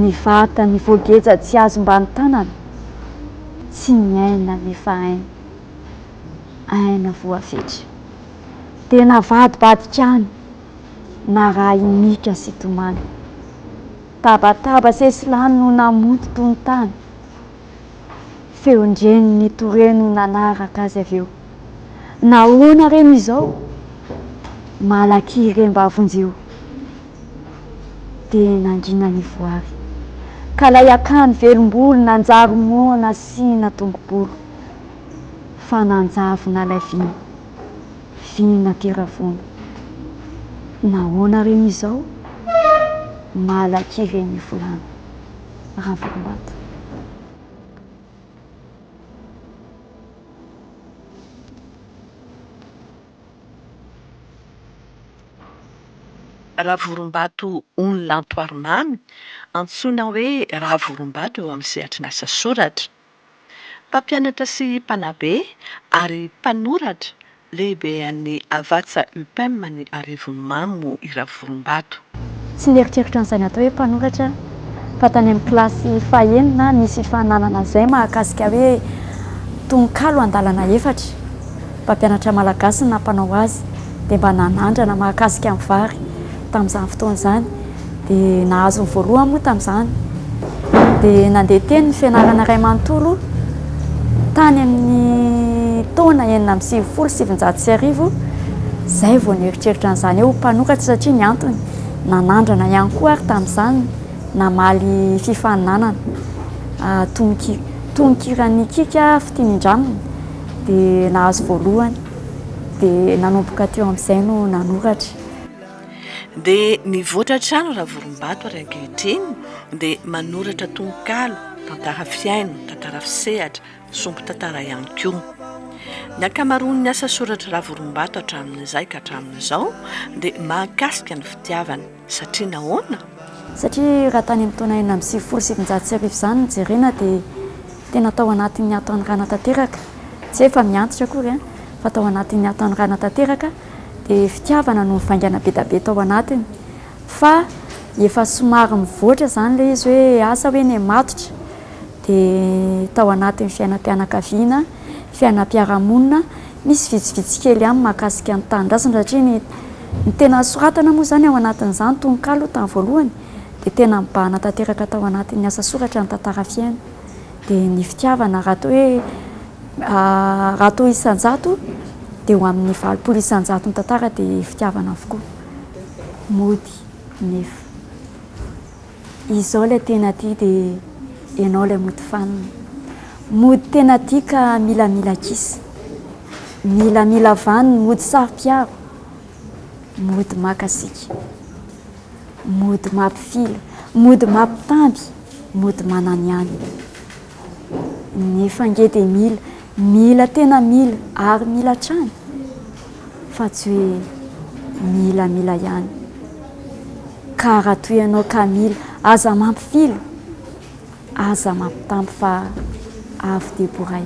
Ny vatany voageja tsy azo mba ny tanana, tsy miaina nefa aina, aina voafetra. Dia navadibadika any narahin'Ika sy Tomany. Tabataba sesilany no namonto tontany. Feon-dreniny toreno nanaraka azy avy eo. Nahoana re no izao? Malaky remba vonjeo dia nangina ny voary, ka lay akany velom-bolo nanjary moa nasiana tongo-bolo, fa nanjavona lay vina, vina tera-vono. Nahoana re no izao? Malaky re ny volana, Ravolombata. Ravorombato Ony Lantoarimamy, antsoina hoe Ravorombato eo amin'ny sehatry ny asa soratra. Mpampianatra sy mpanabe ary mpanoratra Lehibean'ny Havatsa Upem any Arivonimamo i Ravolombato. Tsy nieritreritra an'izay natao hoe mpanoratra aho fa tany amin'ny kilasy fahenina nisy hifaninanana izay mahakasika hoe tononkalo andalana efatra, mpampianatra malagasy no nampanao azy dia mba nanandrana mahakasika ny vary tamin'izany fotoana izany. dia nahazo ny voalohany moa tamin'izany dia nandeha teny ny fianarana iray manontolo tany amin'ny taona enina amby sivifolo sy sivinjato sy arivo izay vao nieritreritra an'izany hoe ho mpanoratra satria ny antony nanandrana ihany koa ary tamin'izany namaly fifaninanana ah, tonoki- tononkiran'ny Kika Fitinindramina dia nahazo voalohany dia nanomboka teo amin'izay no nanoratra Dia mivoatra hatrany Ravorombato ary ankehitriny dia manoratra tononkalo, tantara fihaino, tantara fisehatra, sombin-tantara ihany koa. Ny ankamaroan'ny asa soratr'i Ravorombato hatramin'izay ka hatramin'izao dia mahakasika ny fitiavana. Satria nahoana? Satria raha tany amin'ny taona enina amby sivifolo sy sivinjato sy arivo izany no jerena dia tena tao anatin'ny hatanorana tanteraka, tsy hoe efa mihantitra akory fa tao anatin'ny hatanorana tanteraka dia fitiavana no nivaingana bedabe tao anatiny fa efa somary mivoatra izany ilay izy hoe asa hoe ny matotra dia tao anatin'ny fiainam-pianakaviana, fiainam-piarahamonina. Misy vitsivitsy kely ihany mahakasika ny tanindrazana satria ny ny tena nosoratana moa izany ao anatin'izany tononkalo tamin'ny voalohany dia tena mibahana tanteraka tao anatin'ny asa soratra ny tantara fiaina dia ny fitiavana raha toa hoe raha toa isan-jato dia ho amin'ny valopolo isan-jato ny tantara dia fitiavana avokoa. Mody nefa. Izao ilay tena tia dia ianao ilay mody fanina. Mody tena tia ka milamila kisa. Milamila vaniny, mody saro-piaro. Mody maka sika. Mody mampifily, mody mampitamby, mody mananihany. Nefa ange dia mila, mila tena mila ary mila hatrany fa tsy hoe mila mila ihany. Ka raha toa ianao ka mila, aza mampifily, aza mampitamby fa avo dia boray.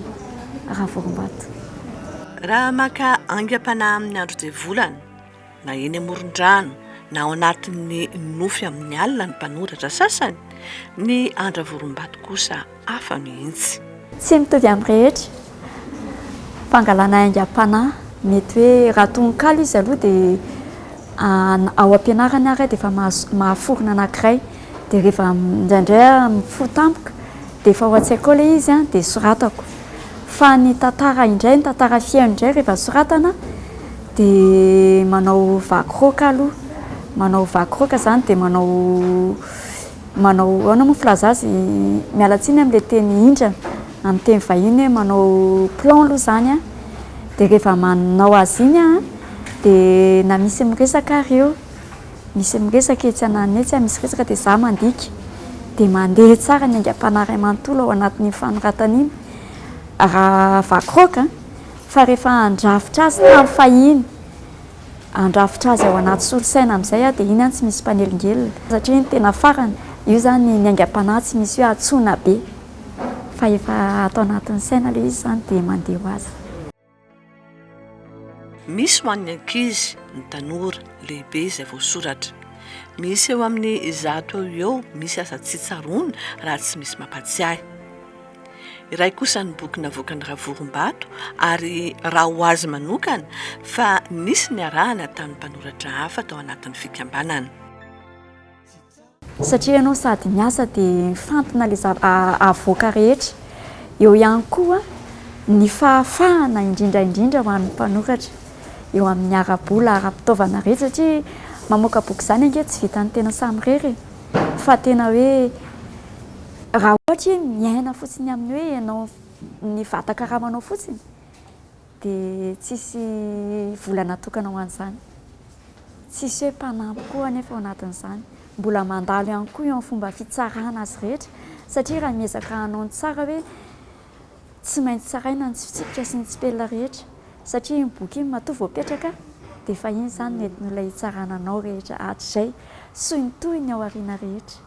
Ravorombato. Raha maka aingam-panahy amin'ny andro dia volana. Na eny amoron-drano na ao anatin'ny nofy amin'ny alina ny mpanoratra sasany, ny Andra Vorombato kosa hafa mihitsy. Tsy mitovy amin'ny rehetra. Fangalana aingam-panahy. Mety hoe raha tononkalo izy aloha dia ao am-pianarana ary dia efa mahaforona anankiray. Dia rehefa indraindray aho mifoha tampoka dia efa ao an-tsaiko ao ilay izy dia soratako. Fa ny tantara indray, ny tantara feno indray rehefa soratana Dia manao vaky roaka aloha, manao vaky roaka izany dia manao manao ahoana moa filaza azy, miala tsiny amin'ilay teny hindrana amin'ny teny vahiny hoe manao plan aloha izany an, dia rehefa manao azy iny an, dia na misy miresaka ary eo, misy miresaka etsy ananana etsy, misy resaka dia za mandika, dia mandeha tsara ny aingam-panahy iray manontolo ao anatin'iny fanoratana iny raha vaky roaka an. Fa rehefa handrafitra azy tamin'ny fahiny, handrafitra azy ao anaty solosaina amin'izay aho dia iny an tsy misy mpanelingelina satria iny tena farany, io izany ny aingam-panahy tsy misy hoe hantsoina be fa efa ato anatin'ny saina ilay izy izany dia mandeha ho azy. Misy ho an'ny ankizy, ny tanora, lehibe izay voasoratra. Misy eo amin'ny zato eo ho eo misy aza tsy tsaroana raha tsy misy mampatsiahy. Iray kosa ny boky navoakan'i Ravorombato ary raha ho azy manokana fa nisy niarahana tamin'ny mpanoratra hafa tao anatin'ny fikambanana. Satria ianao sady miasa dia mifantina ilay zava-avoaka rehetra. Eo ihany koa ny fahafahana indrindra indrindra ho an'ny mpanoratra eo amin'ny ara-bola, ara-pitaovana rehetra satria mamoaka boky izany ange tsy vitan'ny tena samirery e! Fa tena hoe. Raha ohatra hoe miaina fotsiny amin'ny hoe ianao ny vatan-karamanao fotsiny dia tsisy vola natokana ho an'izany. Tsisy hoe mpanampy koa anefa ao anatin'izany. Mbola mandalo ihany koa eo amin'ny fomba fitsarana azy rehetra satria raha miezaka hanao ny tsara hoe tsy maintsy tsaraina ny tsy fitsipika sy ny tsipelina rehetra satria iny boky iny matoa voapetraka dia efa iny izany ny an'ilay hitsarana anao rehetra hatrizay sy ny tohiny ao aoriana rehetra.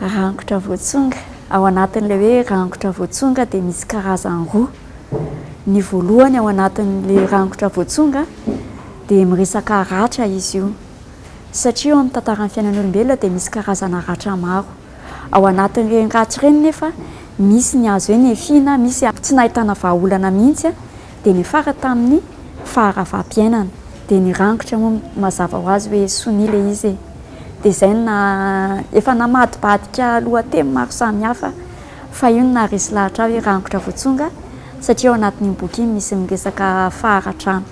Rangotra voatsonga, ao anatin'ilay hoe rangotra voatsonga dia misy karazany roa, ny voalohany ao anatin'ilay rangotra voatsonga dia miresaka ratra izy io satria eo amin'ny tantaran'ny fiainan'ny olombelona dia misy karazana ratra maro, ao anatin'ireny ratra ireny nefa misy ny azo hoe nefina, misy tsy nahitana vahaolana mihitsy. dia niafara tamin'ny faharavampiainana dia nirangotra moa mazava ho azy hoe sonia ilay izy e! dia izay no naha, efa namadibadika lohateny maro samihafa fa io no naharesy lahatra ahy hoe rangotra voatsonga satria ao anatin'iny boky iny misy miresaka faharatrana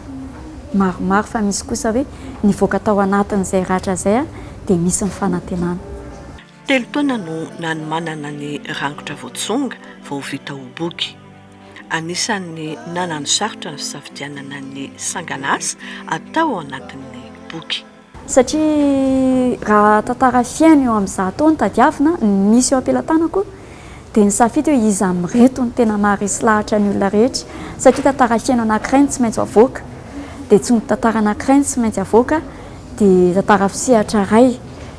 maromaro fa misy kosa hoe nivoaka tao anatin'izay ratra izay aho dia misy ny fanantenana. Telo taona no nanomanana ny rangotra voatsonga vao vita ho boky. Anisan'ny nananosarotra ny fisafidianana ny sanganasa atao ao anatin'ny boky. Satria raha tantara fihaino eo amin'ny zato no tadiavina, ny misy eo am-pelatanako, dia nisafidy hoe iza amin'ireto no tena maharesy lahatra ny olona rehetra. Satria tantara fihaino anankiray no tsy maintsy avoaka, dia tsono tantara anankiray no tsy maintsy avoaka, dia tantara fisehatra iray,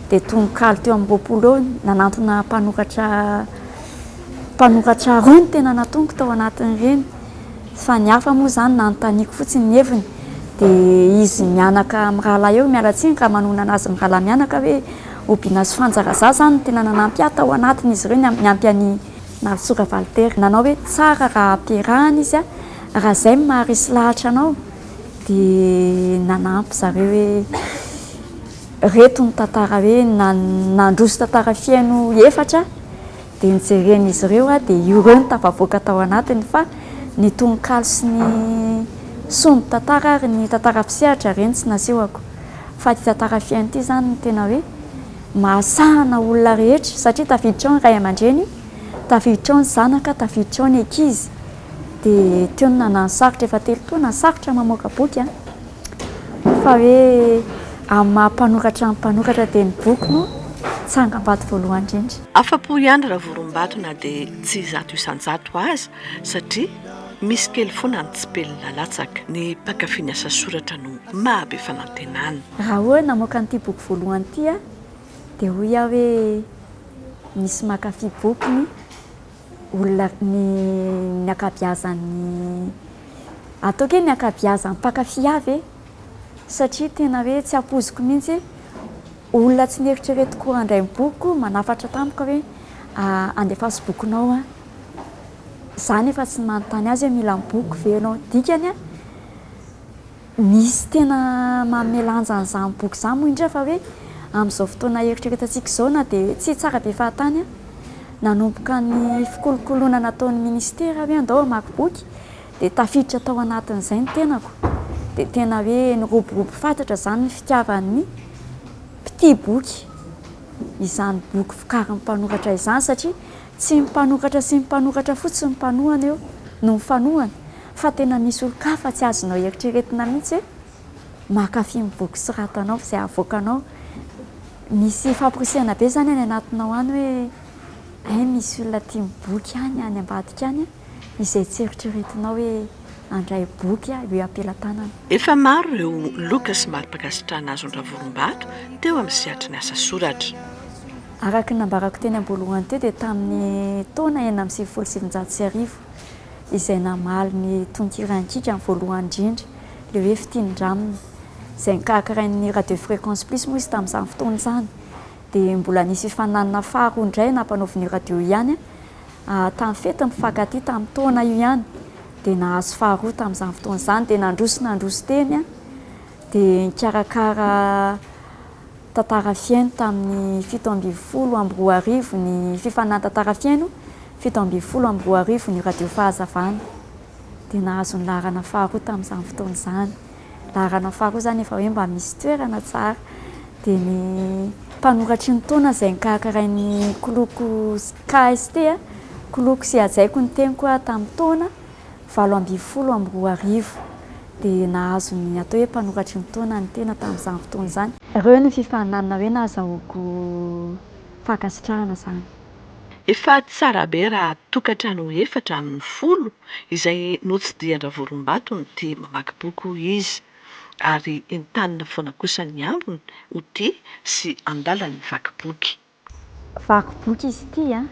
dia tononkalo teo amin'ny roapolo eo nanantona mpanoratra Mpanoratra roa no tena natoniko tao anatin'ireny fa ny hafa moa izany nanontaniako fotsiny ny heviny dia izy mianaka amin'ny rahalahy eo, miala tsiny raha manonona azy ny rahalahy mianaka hoe Obina sy Frantsa Raza izany no tena nanampy ahy tao anatin'izy ireo niampy an'i Narisoa Ravalitera nanao hoe tsara raha ampiarahana izy raha izay no maharesy lahatra anao dia nanampy zareo hoe ireto ny tantara hoe nandroso tantara feno efatra Dia nijeren'izy ireo aho dia ireo no tafavoaka tao anatiny fa ny tononkalo sy ny sombin tantara ary ny tantara mpisehatra ireny tsy nasehoko fa ity tantara fihaino ity izany no tena hoe mahasahana olona rehetra satria tafiditra ao ny ray aman-dreny, tafiditra ao ny zanaka, tafiditra ao ny ankizy dia teo no nanano sarotra efa telo taona sarotra ny mamoaka boky an! fa hoe amin'ny maha mpanoratra ny mpanoratra dia ny boky no tsangam-bato voalohany indrindra. Afa-po ihany Ravorombato na dia tsy zato isan-jato aza satria misy kely foana ny tsipelina nalatsaka. Ny mpankafy ny asa soratra no mahabe fanantenana. Raha hoe namoaka an'ity boky voalohany ity aho dia hoy aho hoe misy mankafy bokiny olona ny ny ankabiazan'ny ataoko hoe ny ankabiazan'ny mpankafy avy e! satria tena hoe tsy ampoiziko mihitsy Olona tsy nieritreretiko handray ny bokiko manafatra tampoka hoe andefaso bokinao aho. Za nefa tsy nanontany azy hoe mila ny bokiko ve ianao. Dikany an, misy tena manome lanja an'izany boky izany moa indrindra fa hoe amin'izao fotoana ieritreretantsika izao na dia tsy tsara be fahatany an, nanomboka ny fikolokoloana nataon'ny minisitera hoe andao hamaky boky dia tafiditra tao anatin'izay ny tenako dia tena hoe niroborobo fatratra izany ny fitiavan'ny mpitia boky izany boky vokarin'ny mpanoratra izany satria tsy ny mpanoratra sy ny mpanoratra fotsiny ny mpanohana eo no mifanohana fa tena misy olon-kafa tsy azonao eritreretina mihitsy hoe mankafy ny boky soratanao izay avoakanao misy famporisihana be izany any anatinao any hoe hay misy olona tia ny boky any any ambadika any izay tsy eritreretinao hoe handray boky aho eo am-pelatanana. Efa maro ireo loka sy mari-pankasitrahana azon-dRavorombato teo amin'ny sehatry ny asa soratra. Araka ny nambarako teny am-boalohany teo dia tamin'ny taona enina amby sivifolo sy sivinjato sy arivo izay namaly ny tononkira An-kikany voalohany indrindra, ilay hoe Fitia ny Ranona, izay nokarakarain'ny Radio Fréquence Plus moa izy tamin'izany fotoana izany dia mbola nisy ifaninanana faharoa indray nampanaovin'io radio io ihany tamin'ny fety mpifankatia tamin'ny taona io ihany dia nahazo faharoa tamin'izany fotoana izany dia nandroso sy nandroso teny an dia nikarakara tantara fihaino tamin'ny fito ambin'ny folo amby roa arivo ny fifaninanana tantara fihaino fito ambin'ny folo amby roa arivo ny radio fahazavana dia nahazo ny laharana faharoa tamin'izany fotoana izany laharana faha roa zany efa hoe mba misy toerana tsara dia ny mpanoratry ny taona izay nikarakarain'ny kloko KST, Kloko sy Hajaiko ny Teniko, tamin'ny taona valo ambin'ny folo amby roa arivo dia nahazo ny atao hoe mpanoratry ny taona ny tena tamin'izany fotoana izany. Ireo no fifaninanana hoe nahazahoako fankasitrahana izany. Efa tsara be raha tokantrano efatra amin'ny folo izay notsidihan-dRavolombatono ity mamaky boky hoy izy, ary entanina foana kosa ny ambiny ho tia sy handala ny vaky boky. Vaky boky izy ity an!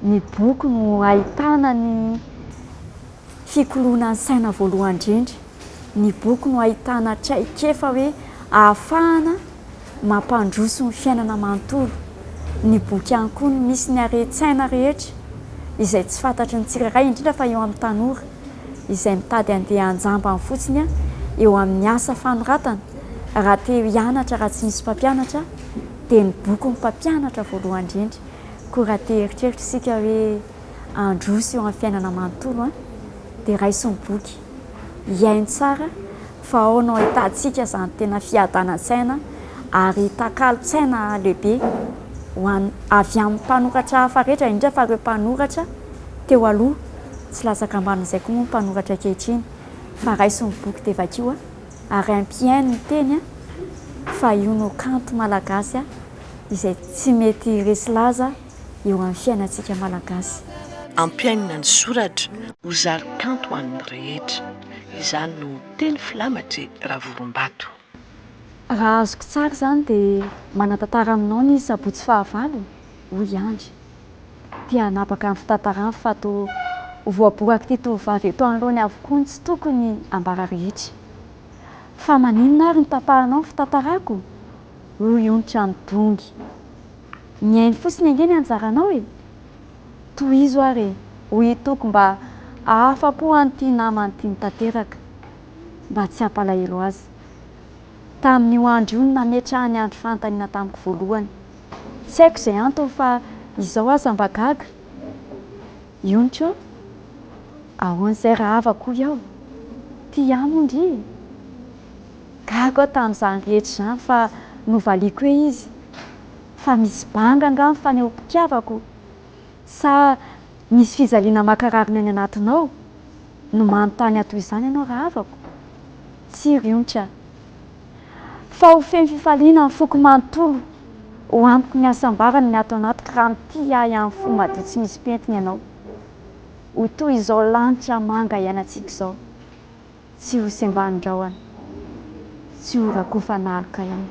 Ny boky no ahitana ny. Fikoloana ny saina voalohany indrindra, ny boky no ahitana traikefa hoe ahafahana mampandroso ny fiainana manontolo. Ny boky ihany koa no misy ny haren-tsaina rehetra izay tsy fantatry ny tsirairay, indrindra fa eo amin'ny tanora izay mitady handeha an-jambany fotsiny eo amin'ny asa fanoratana raha te hianatra raha tsy misy mpampianatra dia ny boky no mpampianatra voalohany indrindra. Koa raha te hieritreritra isika hoe. handroso eo amin'ny fiainana manontolo an! dia raiso ny boky, hihaino tsara fa ao no ahitantsika izany tena fiadanan-tsaina ary takalon-tsaina lehibe ho an'ny, avy amin'ny mpanoratra hafa rehetra, indrindra fa ireo mpanoratra teo aloha, tsy latsaka ambanin'izay koa moa ny mpanoratra ankehitriny fa raiso ny boky dia vakio ary ampihaino ny teny an! fa io no kanto malagasy izay tsy mety resy laza. eo amin'ny fiainantsika Malagasy. Ampiainina ny soratra ho zary kanto ho an'ny rehetra. Izany no teny filamatry Ravorombato. Raha azoko tsara izany dia manantantara aminao ny sabotsy fahavalo, hoy i Andry. Te hanapaka ny fitantarany fa toa ho voaborak'ity tovovavy eto anoloany avokoa ny tsy tokony ambara rehetra. Fa maninona ary no tapahanao ny fitantarako? hoy onitra ny mpongy. Mihaino fotsiny ange ny anjaranao e! Tohizo ary e! hoy i Toky mba hahafa-po an'ity namany tiany tanteraka mba tsy hampalahelo azy. Tamin'io andro io no nametrahany andro fanontaniana tamiko voalohany. Tsy haiko izay antony fa izao aza mba gaga. Yoncho, Ahoana izay rahava ko iao? Tia ahy moa ndry e! Gaga aho tamin'izany rehetra izany fa novaliako hoe izy fa misy banga angaha ny fanehoam-pitiavako? Sa misy fijaliana mankarary ny any anatinao no manontany ahy toy izany ianao rahavako? Tsia ry Yoncha. fa ho feno fifaliana ny foko manontolo ho amiko ny hasambarany ny ato anatiko raha mitia ahy amin'ny fo madio tsy misy pentina ianao ho toy izao lanitra manga iainantsika izao tsy ho sembanin-drahona tsy ho rakofan'aloka ianao